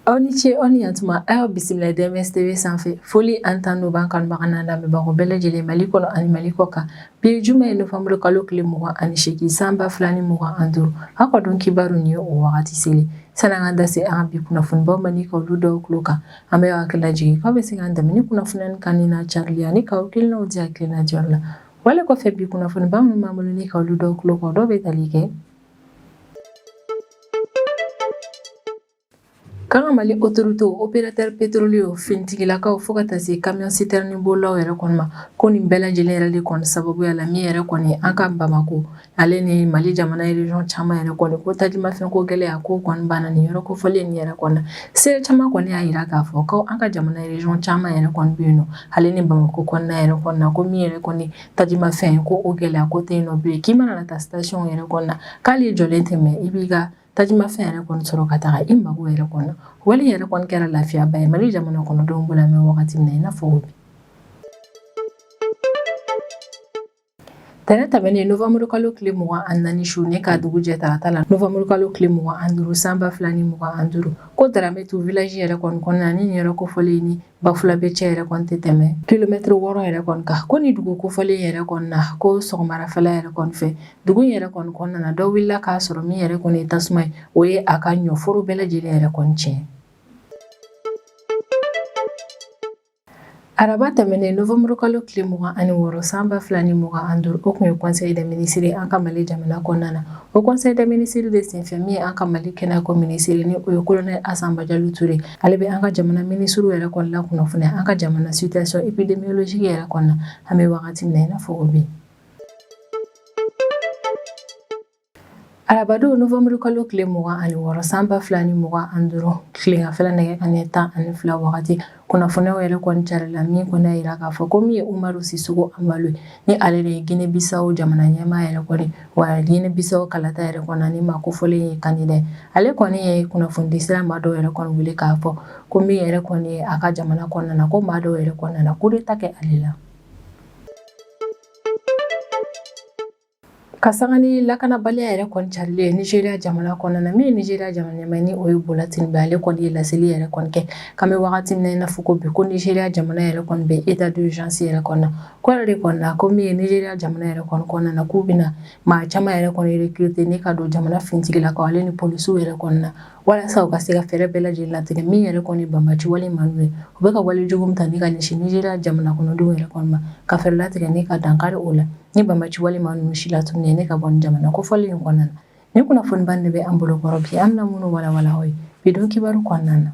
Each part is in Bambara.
aw ni ce aw ni yantuma a y'aw bisimila dms tv sanfɛ foli ani tanuni b'an kanubaga n'an lamɛnbagaw bɛɛ lajɛlen mali kɔnɔ ani mali kɔ kan bi ye juma ye novembre kalo tile mugan ani seegin san ba fila ni mugan ani duuru aw ka don kibaru nin ye o wagati selen san'an ka da se an ka bi kunnafonibaw ma ni ka olu d'aw tulo kan an bɛ aw hakili lajigin k'aw bɛ se k'an dɛmɛ ni kunnafoniya nin kanuni n'a carili ani k'aw hakilinaw di hakilina diyɔrɔ la Wale kɔfɛ bi kunnafoniba minnu b'an bolo ni ka olu d'aw tulo kan dɔw bɛ tali kɛ k'an ka Mali autorités opérateurs pétroliers finitigilakaw fo ka taa se camion citerne bolilaw yɛrɛ kɔni ma, ko nin bɛɛ lajɛlen yɛrɛ de kɔni sababuya la min yɛrɛ kɔni an ka Bamakɔ Ale ni mali jamana région caman yɛrɛ kɔni ko tajimafɛn ko gɛlɛya ko kɔni banna nin yɔrɔ kofɔlen nin yɛrɛ kɔni seere caman kɔni y'a jira k'a fɔ ko an ka jamana région caman yɛrɛ kɔni bɛ yen nɔ ale ni bamakɔ kɔnɔna yɛrɛ kɔni na ko min yɛrɛ kɔni tajimafɛn ko o gɛlɛya ko tɛ yen nɔ bilen k'i mana taa station yɛrɛ kɔni na k'ali i jɔlen tɛ mɛɛn i b'i ka tajimafɛn yɛrɛ kɔni sɔrɔ ka taa i mago yɛrɛ kɔni na wale yɛrɛ kɔni kɛra lafiyaba ye mali jamana kɔnɔdenw bolo an bɛ wagati min na i n'a fɔ Tɛnɛ tɛmɛnen novembre kalo tile 24 su ni k'a dugu jɛ tarata la novembre kalo tile 25 san 2025 ko Daramɛtu village yɛrɛ kɔni kɔnɔna na ni nin yɔrɔ kofɔlen in ni Bafulabe cɛ yɛrɛ kɔni tɛ tɛmɛ kilomètre 6 yɛrɛ kɔni kan ko nin dugu kofɔlen in yɛrɛ kɔni na ko sɔgɔmadafɛla yɛrɛ kɔni fɛ dugu in yɛrɛ kɔni kɔnɔna na dɔ wulila k'a sɔrɔ min yɛrɛ kɔni ye tasuma ye o ye a ka ɲɔforo bɛɛ lajɛlen yɛrɛ kɔni tiɲɛ Araba tɛmɛnen novembre kalo tile mugan ani wɔɔrɔ san ba fila ni mugan an duuru o kun ye conseil des ministres an ka mali jamana kɔnɔna na o conseil des ministres de senfɛ min ye an ka mali kɛnɛyako minisiri ni o ye kolonɛl asa bajalo ture ale bɛ an ka jamana minisiriw yɛrɛ kɔni lakunnafoniya an ka jamana situation épidémiologique yɛrɛ kɔni na an bɛ wagati min na i n'a fɔ ko bi Arabadon novembre kalo tile mugan ani wɔɔrɔ san ba fila ni mugan ani duuru tilegan fɛ nɛgɛ kanɲɛ tan ani fila wagati kunnafoniw yɛrɛ kɔni carila min kɔni y'a jira k'a fɔ ko min ye umaru sisoko anbalo ni ale de ye gine bisaw jamana ɲɛmaa yɛrɛ kɔni wa gine bisaw kalata yɛrɛ kɔni nin maa kofɔlen ye candidat ale kɔni ye kunnafonidi sira maa dɔw yɛrɛ kɔni wele k'a fɔ ko min yɛrɛ kɔni ye a ka jamana kɔnɔna na ko maa dɔw yɛrɛ kɔni nana coup d'état kɛ ale la Ka sanga ni lakanabaliya yɛrɛ kɔni carilen ye Nigeria jamana kɔnɔna na, min ye Nigeria jamana ɲɛmaa ye ni o ye Bola Tinubu ye, ale kɔni ye laseli yɛrɛ kɔni kɛ, k'an bɛ wagati min na i n'a fɔ ko bi, ko Nigeria jamana yɛrɛ kɔni bɛ état d'urgence yɛrɛ kɔnɔna na, k'o yɛrɛ de kɔni na, ko min ye Nigeria jamana yɛrɛ kɔni kɔnɔna na, k'u bɛna maa caman yɛrɛ kɔni recruter ni ka don jamana finitigilakaw ale ni polisiw yɛrɛ kɔni na. Walasa u ka se ka fɛɛrɛ bɛɛ lajɛlen latigɛ min yɛrɛ kɔni banbaci wale maa ninnu ye u bɛ ka wale jugu min ta ne ka ɲɛsin Nigeria jamana kɔnɔdenw yɛrɛ kɔni ma ka fɛɛrɛ latigɛ ne ka dankari o la ni banbaci wale maa ninnu silatunun ne ka bɔ jamana kofɔlen in kɔnɔna na ni kunnafoniba de bɛ an bolo kɔrɔ bi an na minnu walawala aw ye bidon kibaru kɔnɔna na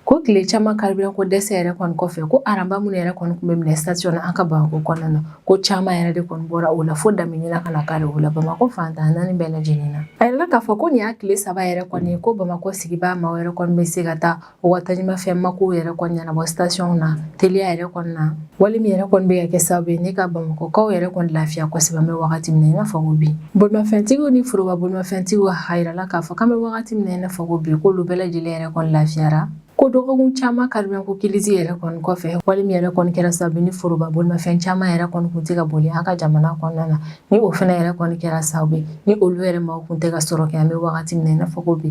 Ko tile caman carburant ko dɛsɛ yɛrɛ kɔni kɔfɛ ko rang ba minnu yɛrɛ kɔni tun bɛ minɛ station na an ka bamakɔ kɔnɔna na ko caman yɛrɛ de kɔni bɔra o la fo daminɛna ka dankari o la bamakɔ fantan naani bɛɛ lajɛlen na a yirala k'a fɔ ko nin y'a tile saba yɛrɛ kɔni ko bamakɔ sigibaa maa yɛrɛ kɔni bɛ se ka taa u ka tajimafɛn mako yɛrɛ kɔni ɲɛnabɔ station na teliya yɛrɛ kɔnɔna na wale min yɛrɛ kɔni bɛ ka kɛ sababu ye ne ka bamakɔkaw yɛrɛ kɔni lafiya kosɛbɛ an bɛ wagati min na i n'a fɔ ko bi bolimafɛntigiw ni foroba bolimafɛntigiw a yirala k'a fɔ k'an bɛ wagati min na i n'a fɔ ko bi k'olu bɛɛ lajɛlen yɛrɛ kɔni lafiyara ko dɔgɔkun caman carburant ko crise yɛrɛ kɔni kɔfɛ wale min yɛrɛ kɔni kɛra sababu ni foroba bolimafɛn caman yɛrɛ kɔni kun tɛ ka boli an ka jamana kɔnɔna na ni o fana yɛrɛ kɔni kɛra sababu ni olu yɛrɛ ma kun tɛ ka sɔrɔ kɛ an bɛ wagati min na i n'a fɔ ko bi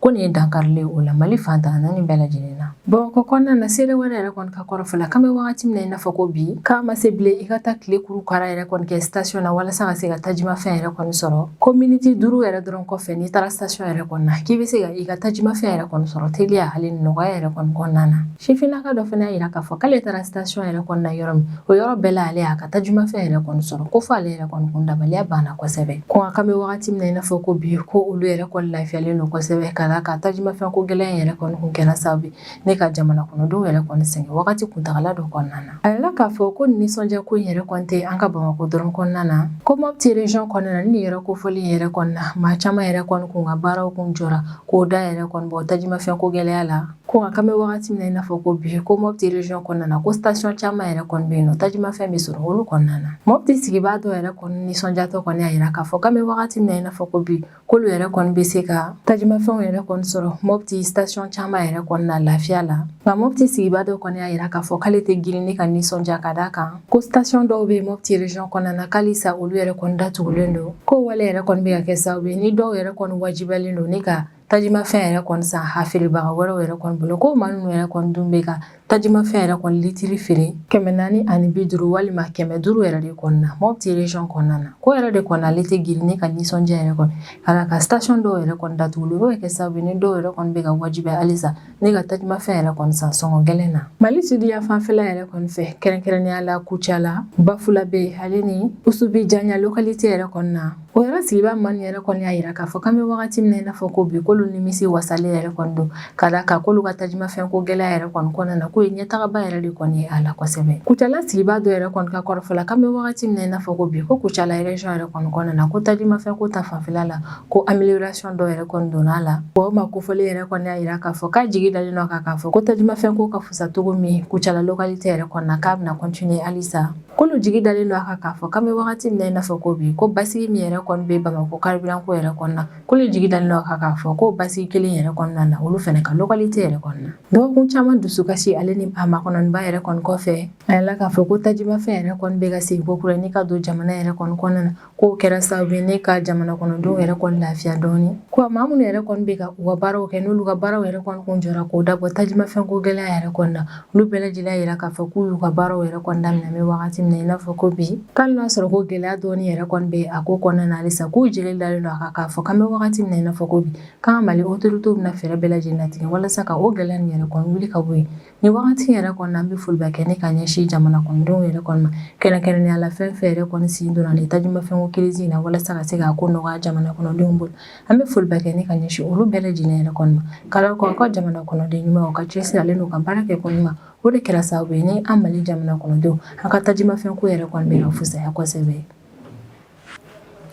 ko nin ye dankarilen o la mali fantan naani bɛɛ lajɛlen na bamakɔ kɔnɔna na seere wɛrɛ yɛrɛ kɔni ka kɔrɔfɔ la k'an bɛ wagati min na i n'a fɔ ko bi k'a ma se bilen i ka taa tile kuru kara yɛrɛ kɔni kɛ station na walasa ka se ka tajimafɛn yɛrɛ kɔni sɔrɔ ko miniti duuru yɛrɛ dɔrɔn kɔfɛ n'i taara station yɛrɛ kɔni na k'i bɛ se ka i ka tajimafɛn yɛrɛ kɔni sɔrɔ teliya hali nɔgɔya yɛrɛ kɔni kɔnɔna na sifinnaka dɔ fana y'a yira k'a fɔ k'ale taara station yɛrɛ kɔni na yɔrɔ min o yɔrɔ bɛɛ la ale y'a ka tajimafɛn yɛrɛ kɔni sɔrɔ ko fɔ ale yɛrɛ kɔni kun dabaliya banna kosɛbɛ ko nka k'an bɛ wagati min na i n'a fɔ ko bi ko olu yɛrɛ kɔni lafiyalen don kosɛbɛ ka d'a kan tajimafɛn ko gɛlɛya yɛrɛ kɔni kun kɛra sababu ye ne ka jamana kɔnɔdenw yɛrɛ kɔni sɛgɛn wagati kuntagala dɔ kɔnɔna na a yirala k'a fɔ ko nisɔndiya ko in yɛrɛ kɔni tɛ an ka bamakɔ dɔrɔn kɔnɔna na ko Mopti region kɔnɔna na ni yɔrɔ kofɔlen yɛrɛ kɔnɔna maa caman yɛrɛ kɔni kun ka baaraw kun jɔra k'o da yɛrɛ kɔni bɔ tajimafɛn ko gɛlɛya la Ko nka k'an bɛ wagati min na i n'a fɔ ko bi ko Mopti region kɔnɔna na ko station caman yɛrɛ kɔni bɛ yen nɔ tajimafɛn bɛ sɔrɔ olu kɔnɔna na Mopti sigibaa dɔ yɛrɛ kɔni nisɔndiyatɔ kɔni y'a yira k'a fɔ k'an bɛ wagati min na i n'a fɔ ko bi k'olu yɛrɛ kɔni bɛ se ka tajimafɛnw yɛrɛ kɔni sɔrɔ Mopti station caman yɛrɛ kɔni na lafiya la nka Mopti sigibaa dɔ kɔni y'a yira k'a fɔ k'ale tɛ girin ni ka nisɔndiya ka d'a kan ko station dɔw bɛ yen Mopti region kɔnɔna na k'alisa olu yɛrɛ kɔni datugulen don ko wale yɛrɛ kɔni bɛ ka kɛ sababu ye ni dɔw yɛrɛ kɔni wajibiyalen don ni ka tajimafɛn yɛrɛ kɔni san a feerebaga wɛrɛw yɛrɛ kɔni bolo ko maa ninnu yɛrɛ kɔni dun bɛ ka tajimafɛn yɛrɛ kɔni litiri feere kɛmɛ naani ani bi duuru walima kɛmɛ duuru yɛrɛ de kɔni na Mopti region kɔnɔna na ko yɛrɛ de kɔni ale tɛ girin ni ka nisɔndiya yɛrɛ kɔni ka d'a kan station dɔw yɛrɛ kɔni datugu o bɛ kɛ sababu ni dɔw yɛrɛ kɔni bɛ ka wajibi halisa Ne ka tajimafɛn yɛrɛ kɔni san sɔngɔ gɛlɛn na mali sidiya fanfɛla yɛrɛ kɔni fɛ kɛrɛnkɛrɛnnenya la kucala bafulabɛ ale ni usubijanya lokalite yɛrɛ kɔni na o yɔrɔ sigibaa maaw yɛrɛ kɔni y'a jira k'a fɔ k'an bɛ wagati min na i n'a fɔ ko bi k'olu nimisi wasalen yɛrɛ kɔni don ka d'a kan k'olu ka tajimafɛn ko gɛlɛya yɛrɛ kɔni kɔnɔna na k'o ye ɲɛtagaba yɛrɛ de kɔni ye a la kosɛbɛ kucala sigibaa dɔ yɛrɛ kɔni ka kɔrɔfɔ la k'an bɛ wagati min na i n'a fɔ ko bi ko kucala région yɛrɛ kɔni kɔnɔna na ko tajimafɛn ko ta fanfɛla la ko amélioration dɔ yɛrɛ kɔni donna a la o maa kofɔlen yɛrɛ kɔni y'a yira k'a fɔ k'a jigi dalen don a kan k'a fɔ ko tajimafɛn ko ka fusa cogo min kucala localité yɛrɛ kɔni na k'a bɛna continuer halisa k'olu jigi dalen don a kan k'a fɔ k'an bɛ wagati min na i n'a fɔ ko bi ko basigi min yɛrɛ kɔni bɛ bamakɔ carburant ko yɛrɛ kɔni na k'olu jigi dalen don a kan k'a fɔ ko basigi kelen yɛrɛ kɔni nana olu fana ka localité yɛrɛ kɔni na dɔgɔkun caman dusukasi ale ni a makɔnɔniba yɛrɛ kɔni kɔfɛ a yirala k'a fɔ ko tajimafɛn yɛrɛ kɔni bɛ ka segin kokura ni ka don jamana yɛrɛ kɔni kɔnɔna na K'o kɛra sababu ye ne ka jamana kɔnɔdenw yɛrɛ kɔni lafiya dɔɔni. Ko maa minnu yɛrɛ kɔni bɛ ka u ka baaraw kɛ n'olu ka baaraw yɛrɛ kɔni kun jɔra k'o dabɔ tajimafɛnko gɛlɛya yɛrɛ kɔni na, olu bɛɛ lajɛlen y'a jira k'a fɔ k'u y'u ka baaraw yɛrɛ kɔni daminɛ an bɛ wagati min na i n'a fɔ ko bi, k'ali n'a sɔrɔ ko gɛlɛya dɔɔni yɛrɛ kɔni bɛ a ko kɔnɔna na halisa k'u jigi dalen don a kan k'a fɔ k'an bɛ wagati min na i n'a fɔ ko bi, k'an ka Mali autorités bɛna fɛɛrɛ bɛɛ lajɛlen latigɛ walasa ka o gɛlɛya nin yɛrɛ kɔni wuli ka bɔ yen. Nin wagati yɛrɛ kɔni an bɛ foliba kɛ ne ka ɲɛsin jamana kɔnɔdenw yɛrɛ kɔni ma kɛrɛnkɛrɛnnenya la fɛn fɛn yɛrɛ kɔni sen donna nin tajimafɛn ko crise in na walasa ka se k'a ko nɔgɔya jamana kɔnɔdenw bolo an bɛ foliba kɛ ne ka ɲɛsin olu bɛɛ lajɛlen yɛrɛ kɔni ma k'a la ko an ka jamana kɔnɔden ɲumanw ka cɛsiri ale n'u ka baara kɛ ko ɲuman o de kɛra sababu ye ni an mali jamana kɔnɔdenw an ka tajimafɛn ko yɛrɛ kɔni bɛ ka fisaya kosɛbɛ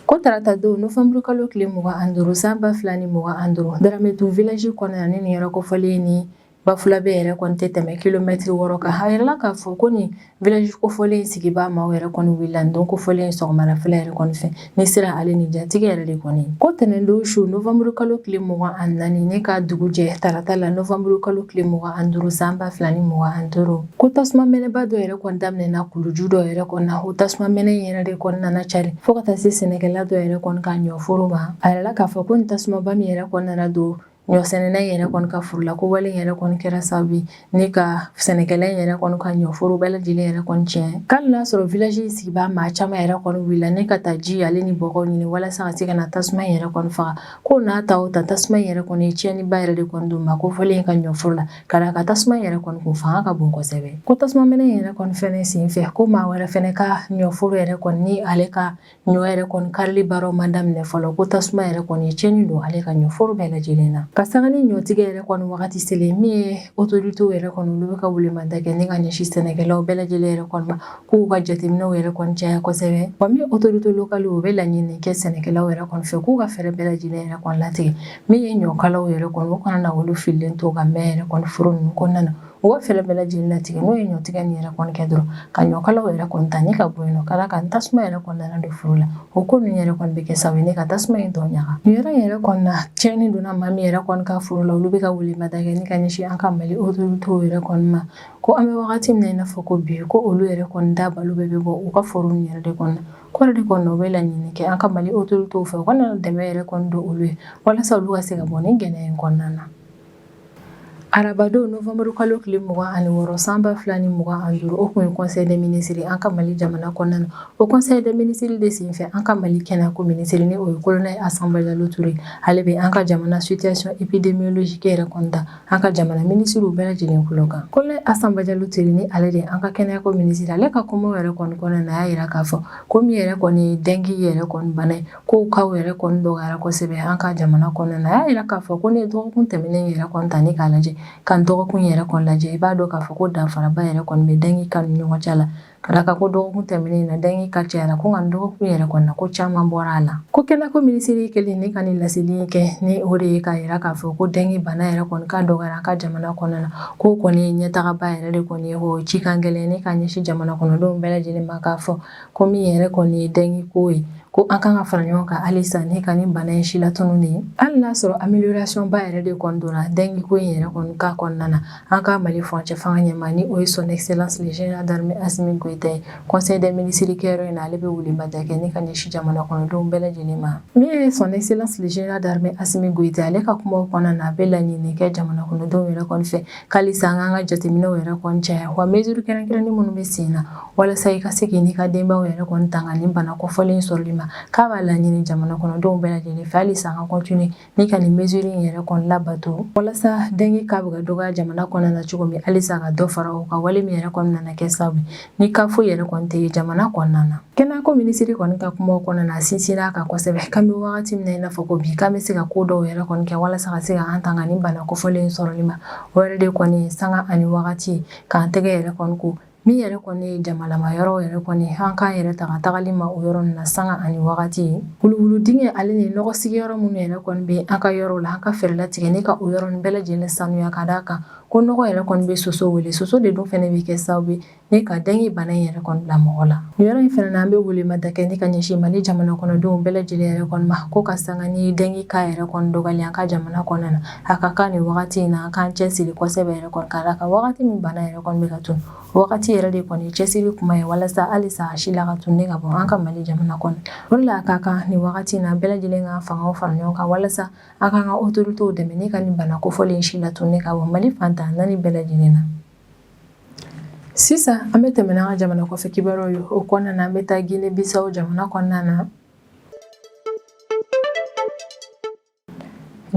ko tarata don novanburukalo tile mugan ni duuru san ba fila ni mugan ni duuru dramɛtu village kɔnɔna ni nin yɔrɔ kofɔlen ni Bafulabɛ yɛrɛ kɔni tɛ tɛmɛ kilomɛtiri wɔɔrɔ kan a yirala k'a fɔ ko nin village kofɔlen sigibaa maaw yɛrɛ kɔni wulila don kofɔlen sɔgɔmadafɛla yɛrɛ kɔni fɛ ni siran ale ni jatigɛ yɛrɛ de kɔni ko ntɛnɛn don su novanburu kalo tile mugan ni naani ne ka dugu jɛ tarata la novanburu kalo tile mugan ni duuru san ba fila ni mugan ni duuru ko tasuma mɛnɛba dɔ yɛrɛ kɔni daminɛna kuluju dɔ yɛrɛ kɔni na o tasuma mɛnɛ yɛrɛ de kɔni nana carin fo ka taa se sɛnɛkɛla dɔ yɛrɛ kɔni ka ɲɔforo ma a yirala k'a fɔ ko nin tasumaba min yɛrɛ kɔni nana don Ɲɔsɛnɛna yɛrɛ kɔni ka foro la ko wale yɛrɛ kɔni kɛra sababu ye ne ka sɛnɛkɛla yɛrɛ kɔni ka ɲɔforo bɛɛ lajɛlen yɛrɛ kɔni tiɲɛ k'ali n'a sɔrɔ village sigibaa maa caman yɛrɛ kɔni wulila ne ka taa ji ale ni bɔgɔ ɲini walasa ka se ka na tasuma yɛrɛ kɔni faga ko n'a ta o ta tasuma yɛrɛ kɔni ye tiɲɛniba yɛrɛ de kɔni don maa kofɔlen in ka ɲɔforo la ka d'a kan tasuma yɛrɛ kɔni ko fanga ka bon kosɛbɛ ko tasuma mɛnɛ yɛrɛ kɔni fana senfɛ ko maa wɛrɛ fana ka ɲɔforo yɛrɛ kɔni ale ka Ɲɔ yɛrɛ kɔni karili baaraw ma daminɛ fɔlɔ ko tasuma yɛrɛ kɔni ye tiɲɛni don ale ka ɲɔforo bɛɛ lajɛlen na ka sanga ni ɲɔtigɛ yɛrɛ kɔni wagati selen min ye autorités yɛrɛ kɔni olu bɛ ka welemada kɛ ne ka ɲɛsin sɛnɛkɛlaw bɛɛ lajɛlen yɛrɛ kɔni ma k'u ka jateminɛw yɛrɛ kɔni caya kosɛbɛ wa min autorités locales u bɛ laɲini kɛ sɛnɛkɛlaw yɛrɛ kɔni fɛ k'u ka fɛɛrɛ bɛɛ lajɛlen yɛrɛ kɔni latigɛ min ye ɲɔkalaw yɛrɛ kɔni u kana na olu fililen to ka mɛn yɛrɛ kɔni foro ninnu kɔnɔna na u ka fɛɛrɛ bɛɛ lajɛlen latigɛ n'o ye ɲɔtigɛ nin yɛrɛ kɔni kɛ dɔrɔn ka ɲɔkalaw yɛrɛ kɔni ta ni ka bɔ yen nɔ ka d'a kan tasuma yɛrɛ kɔni nana don foro la o ko ninnu yɛrɛ kɔni bɛ kɛ sababu ye ne ka tasuma in tɔw ɲaga nin yɔrɔ in yɛrɛ kɔni na tiɲɛni donna maa min yɛrɛ kɔni ka foro la olu bɛ ka welemada kɛ ni ka ɲɛsin an ka mali autorités yɛrɛ kɔni ma ko an bɛ wagati min na i n'a fɔ ko bi ko olu yɛrɛ kɔni da balo bɛɛ bɛ bɔ u ka foro nin yɛrɛ de kɔnɔ ko yɛrɛ de kɔni u bɛ laɲini kɛ an ka mali autorités fɛ u ka dɛmɛ yɛrɛ kɔni don olu ye walasa olu ka se ka bɔ nin gɛlɛya in kɔnɔna na Arabadon novembre kalo tile mugan ani wɔɔrɔ san ba fila ni mugan ani duuru o tun ye conseil des ministres an ka mali jamana kɔnɔna na o conseil des ministres de senfɛ an ka mali kɛnɛyako minisiri ni o ye colonel Assa Badiallo Touré ale bɛ an ka jamana situation épidémiologique yɛrɛ kɔni da an ka jamana minisiriw bɛɛ lajɛlen kulo kan colonel Assa Badiallo Touré ni ale de an ka kɛnɛyako minisiri ale ka kumaw yɛrɛ kɔni kɔnɔna na a y'a jira k'a fɔ ko min yɛrɛ kɔni ye dengue yɛrɛ kɔni bana ye Ko cas yɛrɛ kɔni dɔgɔyara kosɛbɛ an ka jamana kɔnɔ a y'a jira k'a fɔ ko ne dɔgɔkun tɛmɛnen yɛrɛ kɔni ta ne k'a lajɛ ka dɔgɔkun yɛrɛ kɔni lajɛ i b'a dɔn k'a fɔ ko danfaraba yɛrɛ kɔni bɛ dengue cas ni ɲɔgɔn cɛ la ka d'a kan ko dɔgɔkun tɛmɛnen na dengue cas cayara ko nka dɔgɔkun yɛrɛ kɔni na ko caman bɔra a la ko kɛnɛyako minisiri kelen ne ka nin laseli kɛ ni o de ye k'a jira k'a fɔ ko dengue bana yɛrɛ kɔni cas dɔgɔyara an ka jamana kɔnɔna na ko kɔni ɲɛtagaba yɛrɛ de kɔni ye cikan gɛlɛn ne ka ɲɛsin jamana kɔnɔdenw bɛɛ lajɛlen ma k'a fɔ ko min yɛrɛ kɔni ye dengue ko ye ko an kan ka fara ɲɔgɔn kan halisa ne ka nin bana in silatunu de ye hali n'a sɔrɔ amélioration ba yɛrɛ de kɔni donna dengue ko in yɛrɛ kɔni ka kɔnɔna na an ka mali furancɛ fanga ɲɛmaa ni o ye son excellence le général d'armée Assimi Goïta ye conseil des ministres kɛyɔrɔ in na ale bɛ welemada kɛ ne ka ɲɛsin jamana kɔnɔdenw bɛɛ lajɛlen ma min ye son excellence le général d'armée Assimi Goïta ale ka kuma kɔnɔna na a bɛ laɲini kɛ jamana kɔnɔdenw yɛrɛ kɔni fɛ Halisa an k'an ka jateminɛw yɛrɛ kɔni caya wa mesure kɛrɛnkɛrɛnnen minnu bɛ sen na walasa i ka se k'i n'i ka denbayaw yɛrɛ kɔni tanga nin bana kofɔlen in sɔrɔli ma k'a b'a laɲini jamana kɔnɔdenw bɛɛ lajɛlen fɛ halisa an ka continuer ni ka nin mesure in yɛrɛ kɔni labato walasa dengue cas bɛ ka dɔgɔya jamana kɔnɔna na cogo min halisa ka dɔ fara o kan wale min yɛrɛ kɔni nana kɛ sababu ni cas foyi yɛrɛ kɔni tɛ jamana kɔnɔna na kɛnɛyako minisiri kɔni ka kuma kɔnɔna na a sinsinna a kan kosɛbɛ k'an bɛ wagati min na i n'a fɔ ko bi k'an bɛ se ka ko dɔw yɛrɛ kɔni kɛ walasa ka se ka an tanga nin bana kofɔlen sɔrɔli ma o yɛrɛ de kɔni ye sanga ani wagati k'an tɛgɛ yɛrɛ kɔni ko min yɛrɛ kɔni ye jamalama yɔrɔ yɛrɛ kɔni an k'an yɛrɛ tanga tagali ma o yɔrɔ na sanga ani wagati wuluwulu dingɛ ale ni nɔgɔ sigiyɔrɔ minnu yɛrɛ kɔni bɛ an ka yɔrɔ la an ka fɛɛrɛ latigɛ ne ka o yɔrɔ bɛɛ lajɛlen sanuya ka d'a kan ko nɔgɔ yɛrɛ kɔni bɛ soso wele soso de dun fana bɛ kɛ sababu ye ne ka dengue bana in yɛrɛ kɔni bila mɔgɔ la nin yɔrɔ in fana na an bɛ welemada kɛ ne ka ɲɛsin mali jamana kɔnɔdenw bɛɛ lajɛlen yɛrɛ kɔni ma ko ka sanga ni dengue cas yɛrɛ kɔni dɔgɔyalen an ka jamana kɔnɔna na a ka kan nin wagati in na an k'an cɛsiri kosɛbɛ yɛrɛ kɔni ka d'a kan wagati min bana yɛrɛ kɔni bɛ ka tunu wagati yɛrɛ de kɔni cɛsiri kuma ye walasa halisa a si la ka tunu ne ka bɔ an ka mali jamana kɔnɔ o de la a ka kan nin wagati in na bɛɛ lajɛlen ka fangaw fara ɲɔgɔn kan walasa An k'an ka autorités dɛmɛ ne ka nin bana kofɔlen si la tunu ne ka bɔ mali fan tan naani bɛɛ lajɛlen na sisan an bɛ tɛmɛ n'an ka jamana kɔfɛ kibaruyaw ye o kɔnɔna na an bɛ taa Gine Bisawo jamana kɔnɔna na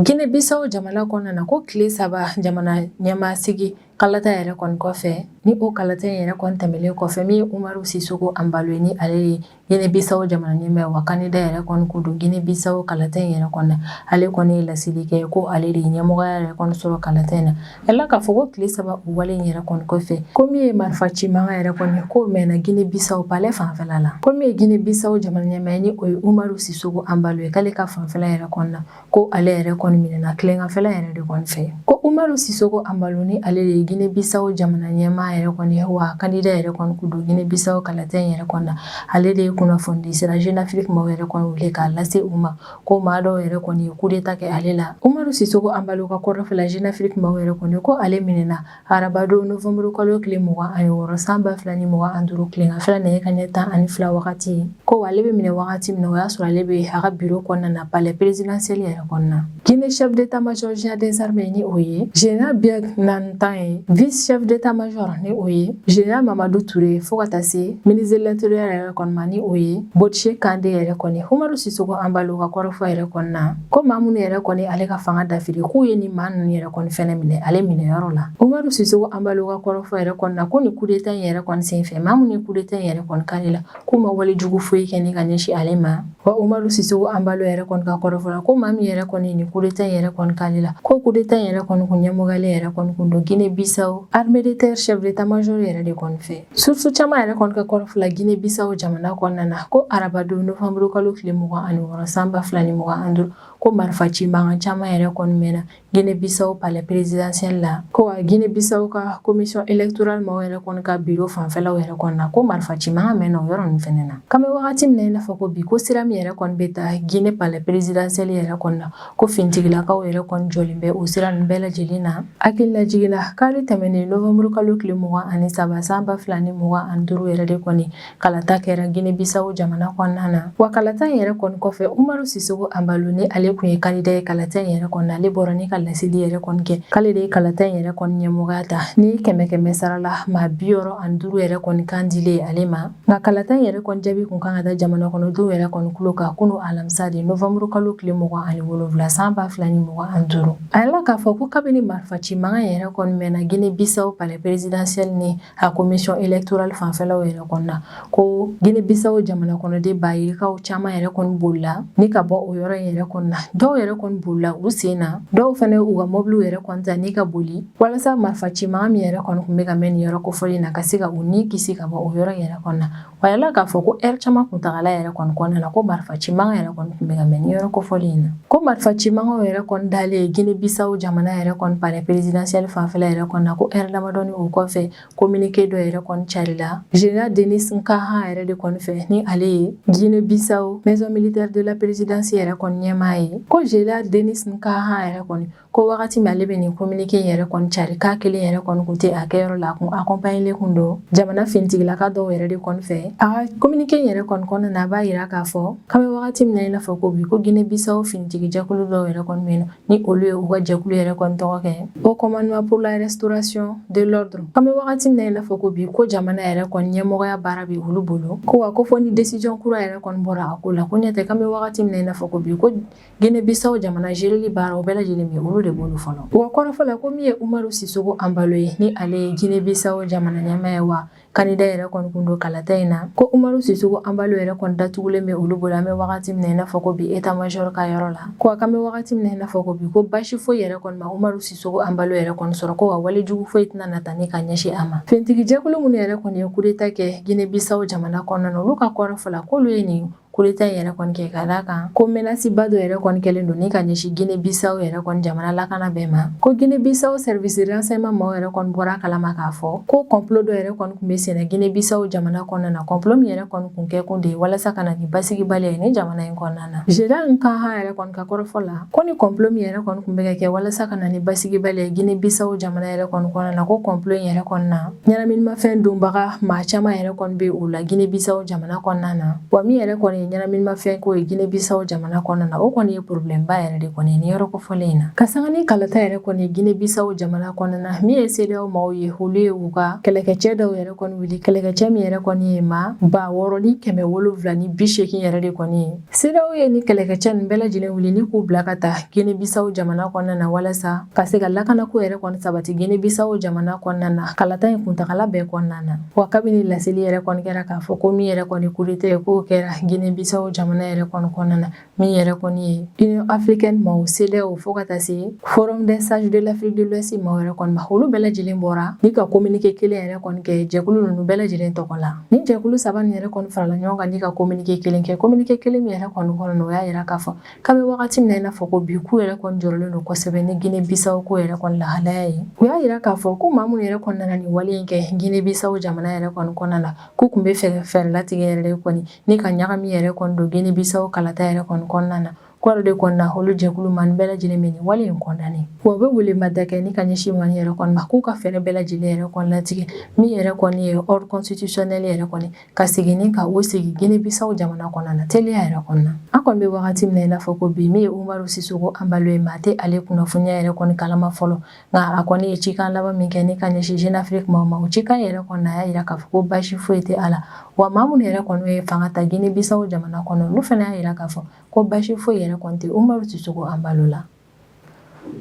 Gine Bisawo jamana kɔnɔna na ko tile saba jamana ɲɛmaa sigi kalata yɛrɛ kɔni kɔfɛ ni o kalata yɛrɛ kɔni tɛmɛnen kɔfɛ min ye Umaru Sisoko Embalo ni ale ye Gine Bisawo jamana ɲɛmaa wa kandida yɛrɛ kɔni kun don Gine Bisawo kalata in yɛrɛ kɔni na, ale kɔni ye laseli kɛ ko ale de ye ɲɛmɔgɔya yɛrɛ kɔni sɔrɔ kalata in na, a jirala k'a fɔ ko tile saba o wale in yɛrɛ kɔni kɔfɛ, ko min ye marifa ci mankan yɛrɛ kɔni ye k'o mɛnna Gine Bisawo palais fanfɛla la, ko min ye Gine Bisawo jamana ɲɛmaa ye ni o ye Umaru Sisoko Embalo ye k'ale ka fanfɛla yɛrɛ kɔni na ko ale yɛrɛ kɔni minɛna tileganfɛla yɛrɛ de kɔni fɛ ko umaru sisoko embalo ni ale de ye gine bisawo jamana ɲɛmaa yɛrɛ kɔni ye wa kandida yɛrɛ kɔni kun don gine bisawo kalata in yɛrɛ kɔni na ale de ye kunnafonidi sira jeune afrique maaw yɛrɛ kɔni wele k'a lase u ma ko maa dɔw yɛrɛ kɔni ye kudeta kɛ ale la umaru sisoko embalo ka kɔrɔfɔ la jeune afrique maaw yɛrɛ kɔni ko ale minɛna Arabadon nofuru kalo tile mɔgɔ ani wɔɔrɔ san ba fila ni mɔgɔ an duuru tile fila na ka ɲɛ tan ani fila wagati ye ko ale bɛ minɛ wagati min o y'a sɔrɔ ale bɛ ha bi kɔnɔna na bala pereresid seli yɛrɛ kɔnɔna na jinɛinɛ shɛ de taama sɔsiya densari bɛ ni o ye j bɛ na tan ye v sɛ de taama sɔrɔ ni o ye j mamadu ture ye fo ka taa se minizelalatoroya yɛrɛ kɔnɔna ni o ye bosi kante yɛrɛ kɔni hamaru siso an bali ka kɔrɔfɔ yɛrɛ kɔnɔna na Ko maa minnu yɛrɛ kɔni ale ka fanga dafiri k'u ye nin maa ninnu yɛrɛ kɔni fana minɛ ale minɛyɔrɔ la Umaru Sisoko Embalo ka kɔrɔfɔ yɛrɛ kɔni na ko nin kudeta in yɛrɛ kɔni sen fɛ maa minnu ye kudeta in yɛrɛ kɔni k'ale la k'u ma wale jugu foyi kɛ ka ɲɛsin ale ma wa Umaru Sisoko Embalo yɛrɛ kɔni ka kɔrɔfɔ la ko maa min yɛrɛ kɔni nin kudeta in yɛrɛ kɔni k'ale la ko kudeta in yɛrɛ kɔni kun ɲɛmɔgɔlen yɛrɛ kɔni kun don Gine Bisawo armée de terre chef d'état-major yɛrɛ de kɔni fɛ Source caman yɛrɛ kɔni ka kɔrɔfɔ la gine bisaw jamana kɔnɔna na ko arabadon novembre kalo tile mugan ani wɔɔrɔ san ba fila ni mugan ani duuru ko marifa ci mankan caman yɛrɛ kɔni mɛnna gine bisaw palɛ perezidansiyɛli la ko wa gine bisaw ka komisɔn elekitoral maaw yɛrɛ kɔni ka biro fanfɛlaw yɛrɛ kɔni na ko marifa ci mankan mɛnna o yɔrɔ ninnu fana na k'an bɛ wagati min na i n'a fɔ ko bi ko sira min yɛrɛ kɔni bɛ taa gine palɛ perezidansiyɛli yɛrɛ kɔni na ko fintigilakaw yɛrɛ kɔni jɔlen bɛ o sira ninnu bɛɛ lajɛlen na hakililajigin na kari tɛmɛnen nowanburu kalo tile mugan ani saba san ba fila ni mugan ani duuru yɛrɛ de kɔni kalata kɛra gine bisawo jamana kɔnɔna na wa kalata in yɛrɛ kɔni kɔfɛ umaru sisogo anbalo ni ale kun ye kandida ye kalata in yɛrɛ kɔni na ale bɔra ni ka laseli yɛrɛ kɔni kɛ k'ale de ye kalata in yɛrɛ kɔni ɲɛmɔgɔya ta ni kɛmɛ kɛmɛ sara la maa biwɔɔrɔ ani duuru yɛrɛ kɔni kan dilen ale ma Nka kalata in yɛrɛ kɔni jaabi kun kan ka da jamana kɔnɔdenw yɛrɛ kɔni tulo kan kunun alamisa de nowanburu kalo tile mugan ani wolonwula san ba fila ni mugan ani duuru a yala k'a fɔ ko kabini marifa ci mankan in yɛrɛ kɔni mɛnna Guinée Bissau palais présidentiel ni a commission électorale fanfɛlaw yɛrɛ kɔni na ko Guinée Bissau jamana kɔnɔden ba yirikaw caman yɛrɛ kɔni bolila ni ka bɔ o yɔrɔ in yɛrɛ kɔni na dɔw yɛrɛ kɔni bolila u sen na dɔw fɛnɛ u ka mɔbiliw yɛrɛ kɔni ta ni ka boli Walasa marifa cimankan min yɛrɛ kɔni kun bɛ ka mɛn nin yɔrɔ kofɔlen in na ka se ka u ni kisi ka bɔ o yɔrɔ yɛrɛ kɔni na a yala k'a fɔ ko eri caman kuntaala yɛrɛ kɔni kɔnɔna na ko marifa cimankan yɛrɛ kɔni kun bɛ ka mɛn nin yɔrɔ kofɔlen in na ko marifa cimankanw yɛrɛ kɔni dalen gine bisaw jamana yɛrɛ kɔni palɛ perezidansiyɛli fanfɛla yɛrɛ kɔni na ko eri damadɔni o kɔfɛ kominike dɔ yɛrɛ kɔni carila zenerali denis nkanha yɛrɛ de kɔni fɛ ni ale ye gine bisaw maison militaire de la présidence yɛrɛ kɔni ɲɛmaa ye ko zenerali denis nkanha yɛrɛ kɔni ko wagati min ale bɛ nin kominike yɛrɛ kɔni cari k'a kelen yɛrɛ kɔni kun tɛ a kɛyɔrɔ la a kun akɔnpanyelen kun don jamana finitigilaka dɔw yɛrɛ de kɔni fɛ a ka kominike yɛrɛ kɔni kɔnɔna na a b'a yira k'a fɔ k'an bɛ wagati min na i n'a fɔ ko bi ko gine bisaw finitigi jɛkulu dɔw yɛrɛ kɔni bɛ yen ni olu ye u ka jɛkulu yɛrɛ kɔni tɔgɔ kɛ haut commandement pour la restauration de l'ordre k'an bɛ wagati min na i n'a fɔ ko bi ko jamana yɛrɛ kɔni ɲɛmɔgɔya baara bɛ olu bolo ko wa ko fɔ ni décision kura yɛrɛ kɔni bɔra a ko la ko ɲɛtɛ k'an bɛ wagati min na i n'a fɔ ko bi ko Guinée-Bissau jamana zereli baara o bɛɛ lajɛlen bɛ olu de bolo fɔlɔ u ka kɔrɔfɔ la ko min ye Umaru Sisoko Embalo ye ni ale ye Guinée-Bissau jamana ɲɛmaa ye wa kandida yɛrɛ kɔni kun don kalata in na ko Umaru Sisoko Embalo yɛrɛ kɔni datugulen bɛ olu bolo an bɛ wagati min na i n'a fɔ ko bi état major ka yɔrɔ la ko wa k'an bɛ wagati min na i n'a fɔ ko bi ko basi foyi yɛrɛ kɔni ma Umaru Sisoko Embalo yɛrɛ kɔni sɔrɔ ko wa wale jugu foyi tɛna na ta ni ka ɲɛsin a ma finitigi jɛkulu minnu yɛrɛ kɔni ye kudeta kɛ Guinée-Bissau jamana kɔnɔna na olu ka kɔrɔfɔ la k'olu ye nin Kudeta yɛrɛ kɔni kɛ ka d'a kan ko menasiba dɔ yɛrɛ kɔni kɛlen don ni ka ɲɛsin Guinée Bissau yɛrɛ kɔni jamana lakana bɛɛ ma ko Guinée Bissau service renseignement maaw yɛrɛ kɔni bɔra a kalama k'a fɔ ko complot dɔ yɛrɛ kɔni kun bɛ senna Guinée Bissau jamana kɔnɔna na complot min yɛrɛ kɔni kun kɛkun de ye walasa ka na ni basigibaliya ye nin jamana in kɔnɔna na Général Nkanha yɛrɛ kɔni ka kɔrɔfɔ la ko ni complot min yɛrɛ kɔni kun bɛ ka kɛ walasa ka na ni basigibaliya ye Guinée Bissau jamana yɛrɛ kɔni kɔnɔna na ko complot in yɛrɛ kɔni na Ɲɛnaminimafɛn donbaga maa caman yɛrɛ kɔni bɛ o la Guinée Bissau jamana kɔnɔna na, wa min yɛrɛ kɔni ye ɲɛnaminimafɛn ko ye Guinée Bissau jamana kɔnɔna na, o kɔni ye problème ba yɛrɛ de kɔni ye nin yɔrɔ kofɔlen in na, ka sanga ni kalata yɛrɛ kɔni ye Guinée Bissau jamana kɔnɔna na, min ye CEDEAO maaw ye, olu ye u ka kɛlɛkɛcɛ dɔw yɛrɛ kɔni wuli, kɛlɛkɛcɛ min yɛrɛ kɔni ye maa ba wɔɔrɔ ni kɛmɛ wolonwula ni bi seegin yɛrɛ de kɔni ye. CEDEAO ye nin kɛlɛkɛcɛ ninnu bɛɛ lajɛlen wuli ni k'u bila ka taa Guinée Bissau jamana kɔnɔna na walasa ka se ka lakanako yɛrɛ kɔni sabati Guinée Bissau jamana kɔnɔna na kalata in kuntagala bɛɛ kɔnɔna na wa kabini laseli yɛrɛ kɔni kɛra k'a fɔ ko min yɛrɛ kɔni coup d'état ye k'o kɛra Guinée Bissau jamana yɛrɛ kɔni kɔnɔna na min yɛrɛ kɔni ye union africaine maaw CEDEAO fo ka taa se forum des sages de l'afrique de l'ouest maaw yɛrɛ kɔni ma olu bɛɛ lajɛlen bɔra ni ka kominike kelen yɛrɛ kɔni kɛ jɛkulu ninnu bɛɛ lajɛlen tɔgɔ la ni jɛkulu saba nin yɛrɛ kɔni farala ɲɔgɔn kan ni ka kominike kelen kɛ kominike kelen min yɛrɛ kɔni kɔnɔ na o y'a yira k'a fɔ K'an bɛ wagati min na i n'a fɔ ko bi k'u yɛrɛ kɔni jɔrɔlen don kosɛbɛ ni Guinée Bissau ko yɛrɛ kɔni lahalaya ye u y'a yira k'a fɔ ko maa minnu yɛrɛ kɔni nana nin wale in kɛ Guinée Bissau jamana yɛrɛ kɔni kɔnɔna na k'u tun bɛ fɛɛrɛ latigɛ yɛrɛ de kɔni ni ka ɲagami yɛrɛ kɔni don Guinée Bissau kalata yɛrɛ kɔni kɔnɔna na k'o yɛrɛ de kɔni na olu jɛkulu maa ninnu bɛɛ lajɛlen bɛ nin wale in condamner wa u bɛ welemada kɛ ni ka ɲɛsin maa ninnu yɛrɛ kɔni ma k'u ka fɛɛrɛ bɛɛ lajɛlen yɛrɛ kɔni latigɛ min yɛrɛ kɔni ye ordre constitutionnel yɛrɛ kɔni ka segin ni ka o sigi Guinée Bissau jamana kɔnɔna na teliya yɛrɛ kɔnɔna an kɔni bɛ wagati min na i n'a fɔ ko bi min ye Umaru Sissoco Embalo ye maa tɛ ale kunnafoniya yɛrɛ kɔni kalama fɔlɔ nka a kɔni ye cikan laban min kɛ ni ka ɲɛsin jeune afrique maaw ma o cikan yɛrɛ kɔnɔna a y'a yira k'a fɔ ko basi foyi tɛ a la wa maa minnu yɛrɛ kɔni ye fanga ta Guinée Bissau jamana kɔnɔ olu fana y'a yira k'a fɔ ko basi foyi yɛrɛ kɔni tɛ Umaru Sissoco Embalo la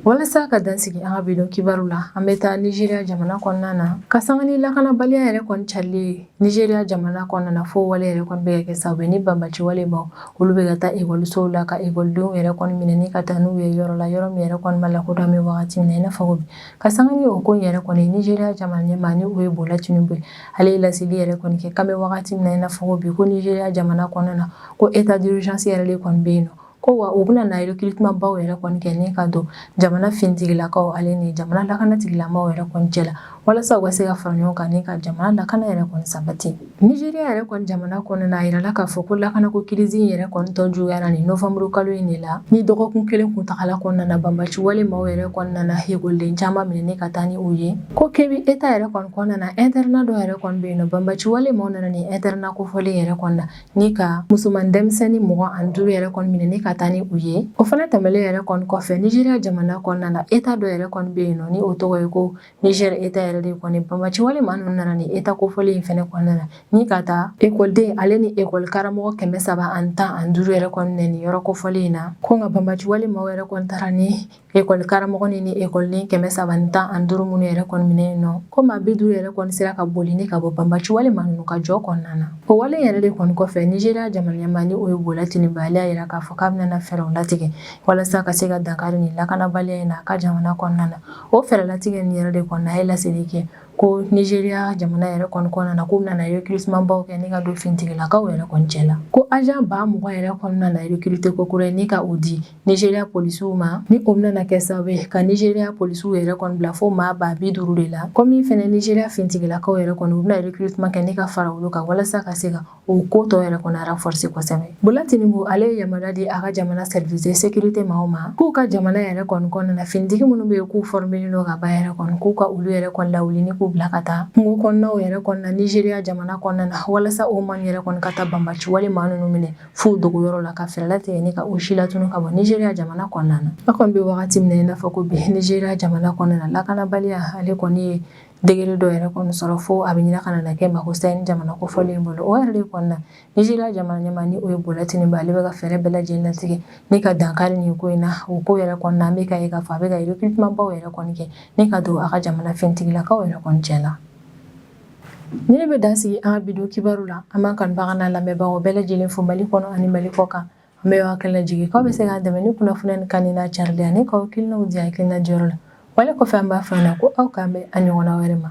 Walasa ka dan sigi an ka bi don kibaru la an bɛ taa Nigeria jamana kɔnɔna na ka sanga ni lakanabaliya yɛrɛ kɔni carilen Nigeria jamana kɔnɔna na fo wale yɛrɛ bɛ ka kɛ sababu ye ni banbaci wale maaw olu bɛ ka taa ekɔlisow la ka ekɔlidenw yɛrɛ minɛ ka taa n'u ye yɔrɔ la yɔrɔ min yɛrɛ kɔni ma lakodɔn an bɛ wagati min na i n'a fɔ ko bi ka sanga ni o ko yɛrɛ kɔni Nigeria jamana ɲɛmaa ni o ye Bola Tinubu ye ale ye laseli yɛrɛ kɔni kɛ k'an bɛ wagati min na i n'a fɔ ko bi ko Nigeria jamana kɔnɔna na ko état d'urgence yɛrɛ de kɔni bɛ yen nɔ ko wa u bɛna na recrutement baw yɛrɛ kɔni kɛ ni ka don jamana finitigilakaw ale ni jamana lakanatigilamaaw yɛrɛ kɔni cɛ la walasa u ka se ka fara ɲɔgɔn kan ni ka jamana lakana yɛrɛ kɔni sabati Nigeria yɛrɛ kɔni jamana kɔnɔna a yirala k'a fɔ ko lakanako kirizi in yɛrɛ kɔni tɔ juguyara ni novembre kalo in de la ni dɔgɔkun kelen kuntagala kɔnɔna banbaci wale maaw yɛrɛ kɔni nana ekɔliden caman minɛ ni ka taa ni u ye ko Kebbi état yɛrɛ kɔni kɔnɔna internat dɔ yɛrɛ kɔni bɛ yen nɔ banbaci wale maaw nana ni internat kofɔlen yɛrɛ kɔnɔna ni ka musoman denmisɛnnin mugan ani duuru yɛrɛ kɔni minɛ ni ka taa ni u ye o fana tɛmɛlen yɛrɛ kɔni kɔfɛ Nigeria jamana kɔnɔna na état dɔ yɛrɛ kɔni bɛ yen nɔ ni o tɔgɔ ye ko Niger état yɛrɛ de kɔni banbaci wale maa ninnu nana ni état kofɔlen in fana kɔnɔna na ni ka taa ekɔliden ale ni ekɔli karamɔgɔ kɛmɛ saba ani tan ani duuru yɛrɛ kɔni minɛ ni yɔrɔ kofɔlen in na ko nka banbaci wale maaw yɛrɛ kɔni taara ni Ekɔlikaramɔgɔ ni ni ekɔliden kɛmɛ saba tan ani duuru minnu yɛrɛ kɔni minɛnen don ko maa bi duuru yɛrɛ kɔni sera ka boli ni ka bɔ banbaci wale maa ninnu ka jɔ kɔnɔna na o wale yɛrɛ de kɔni kɔfɛ Nizeriya jamana ɲɛmaa ni o ye Bola Tinubu ale y'a jira k'a fɔ k'a bɛna fɛɛrɛw latigɛ walasa ka se ka dankari nin lakanabaliya in na a ka jamana kɔnɔna na o fɛɛrɛ latigɛ nin yɛrɛ de kɔnɔ a ye laseli kɛ ko Nizeriya jamana yɛrɛ kɔni kɔnɔna na k'u bɛna recrutementbaw kɛ ni ka don finitigilakaw yɛrɛ kɔni cɛ la ko agent ba mugan yɛrɛ kɔni bɛna recruter ko kura ye ni ka o di Nizeriya polisiw ma ni o bɛna kɛ sababu ye ka Nizeriya polisiw yɛrɛ kɔni bila fo maa ba bi duuru de la komi fɛnɛ Nizeriya finitigilakaw yɛrɛ kɔni u bɛna recrutement kɛ ni ka fara olu kan walasa ka se ka o ko tɔ yɛrɛ kɔni renforcer kosɛbɛ Bola Tinubu ale ye yamaruya di a ka jamana service de sécurité maaw ma k'u ka jamana yɛrɛ kɔni kɔnɔna na finitigi minnu bɛ yen k'u former len don ka ban yɛrɛ kɔni k'u ka olu yɛrɛ kɔni lawuli ni k'u bila ka taa kungo kɔnɔnaw yɛrɛ kɔnɔna Nizeriya jamana kɔnɔna na walasa o maa yɛrɛ kɔni ka taa banbaciwale maa ninnu minɛ f'u dogoyɔrɔ la ka fɛɛrɛ latigɛ ni ka o si latunu ka bɔ nizeriya jamana kɔnɔna na a kɔni bɛ wagati min na i n'a fɔ ko bi nizeriya jamana kɔnɔna na lakanabaliya ale kɔni ye degré dɔ yɛrɛ kɔni sɔrɔ fo a bɛ ɲina ka na kɛ makosa nin jamana kofɔlen bolo o yɛrɛ de kɔnɔna nizeriya jamana ɲɛmaa ni o ye Bola Tinubu ale bɛ ka fɛɛrɛ bɛɛ lajɛlen latigɛ ni ka dankari nin ko in na o ko yɛrɛ kɔnɔna an bɛ k'a ye k'a fɔ a bɛ ka recrutementbaw yɛrɛ kɔni kɛ ni ka don a ka jamana finitigilakaw yɛrɛ kɔni cɛ la Nin de bɛ dan sigi an ka bi don kibaru la an b'an kanubagaw n'an lamɛnbagaw bɛɛ lajɛlen fo mali kɔnɔ ani mali kɔ kan an b'aw hakilina jigin k'aw bɛ se k'an dɛmɛ ni kunnafoni nin kanni n'a carili ye ani k'aw hakilinaw di hakilina jɔyɔrɔ la wale kɔfɛ an b'a fɔ na ko aw k'an bɛn a ɲɔgɔnna wɛrɛ ma